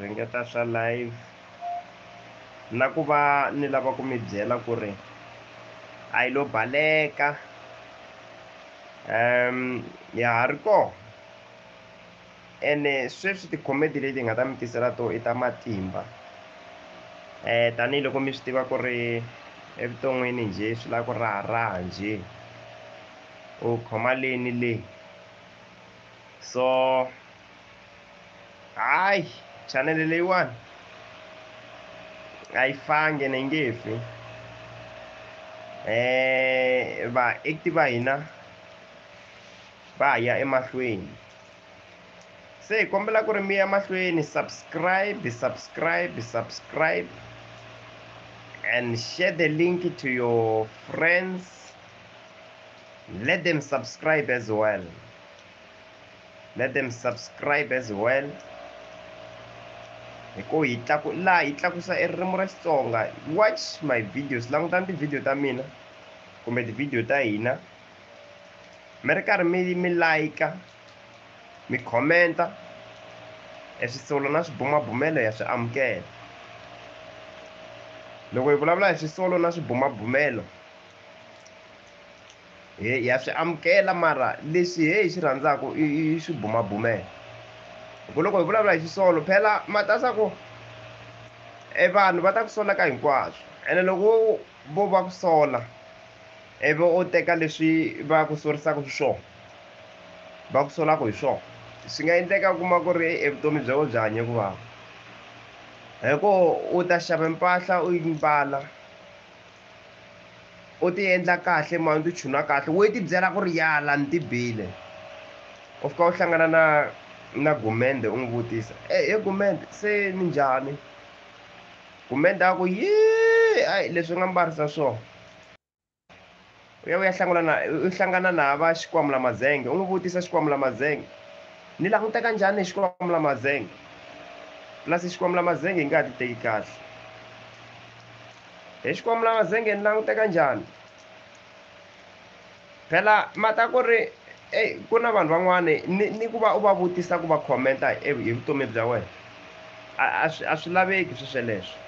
ringeta swa live na ku va ni lava ku mi byela ku ri a yi lo baleka um ya ha ri kona ene sweswi tikhomedi leti hi nga ta mi tisela to i ta matimba um tanihiloko mi swi tiva ku ri evuton'wini njhe swi lava ku raharaha njhe u khoma leni leyi so hayi chanele leyiwani a yi fange na yi nge fi um eh, vaekti va hina va ha ya emahlweni se hi kombela ku ri mi ya mahlweni subscribe subscribe subscribe and share the link to your friends Let them subscribe as well. Let them subscribe as well. hi ku hi tlaku laha hi tlakusa e ririmi ra xitsonga watch my videos langutani tivhidiyo ta mina kumbe tivhidiyo ta hina mi ri karhi mi mi layika mi khomenta e swisolo na swibumabumelo ya swi amukela loko hi vulavula hi swisolo na swibumabumelo he ya swi amukela mara leswi he hi swi rhandzaka i swi bumabumela ku loko hi vulavula hi xisolo phela matasa ku e vanhu va ta ku sola ka hinkwaswo ene loko vo va ku sola ivi u teka leswi va ku sorisaka hi swona va ku solaka hi swona swi nga endleka u kuma ku ri evutomi bya wena byi hanye ku vava hi ku u ta xava mpahla u yi mbala U ti endla kahle mhani u ti chuna kahle wo yi ti byela ku ri yala ni ti bile u fika u hlangana na na gumende u n'wi vutisa e he gumende se ni njhani gumende a ku yee a leswi nga mbarisa swona U ya u ya hlangula na u hlangana na hava Xikwamula-mazenge, u n'wi vutisa, Xikwamula-mazenge, ni languteka njhani hi Xikwamula-mazenge? Plus Xikwamula-mazenge yi nga ha ti teki kahle. Hi Xikwamula-mazenge ni languteka njhani? Phela mhaka ku ri eyi ku na vanhu van'wani ni ni ku va u va vutisa ku va khomenta hi vutomi bya wena a a swi a swi laveki swesweleswo.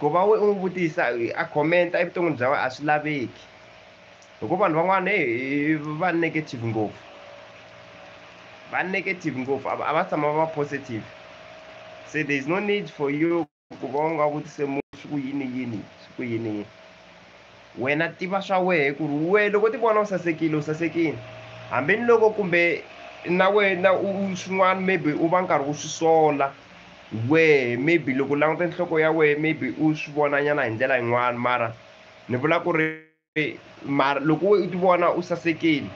Ku va u n'wi vutisa a comment evuton'wini bya wena a swi laveki hi ku vanhu van'wana heyi va negative ngopfu va negative ngopfu a va tshama va va positive se there is no need for you ku va u nga vutise munhu swi ku yini yini swi ku yini yini Wena tiva swa wehe ku ri wehe loko ti vona u sasekile u sasekile hambi ni loko kumbe na wena u swin'wana maybe u va nkarhi u swi sola wehe maybe loko u languta nhloko ya wehe maybe u swi vonanyana hi ndlela yin'wana mara ni vula ku ri mara loko we u ti vona u sasekile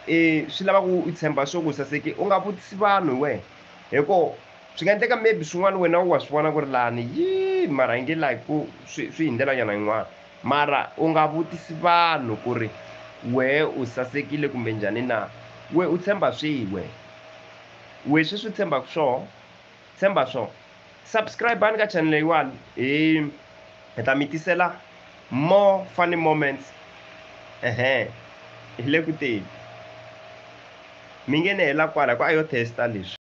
i swi lava ku u tshemba swo ku u saseke u nga vutisi vanhu hi wehe hi ko swi nga endleka maybe swin'wana wena u wa swi vona ku ri lani yi mara yi nge like ku swi swi hi ndlela nyana yin'wana mara u nga vutisi vanhu ku ri wehe u sasekile kumbe njhani na we u tshemba swihi we we sweswi u tshembaka swoho tshemba swoho subscribani ka channel leyiwani hi hi ta mi tisela more funny moments ehe hi le ku teni mi nge ne hela kwala hi ku a yo testa leswi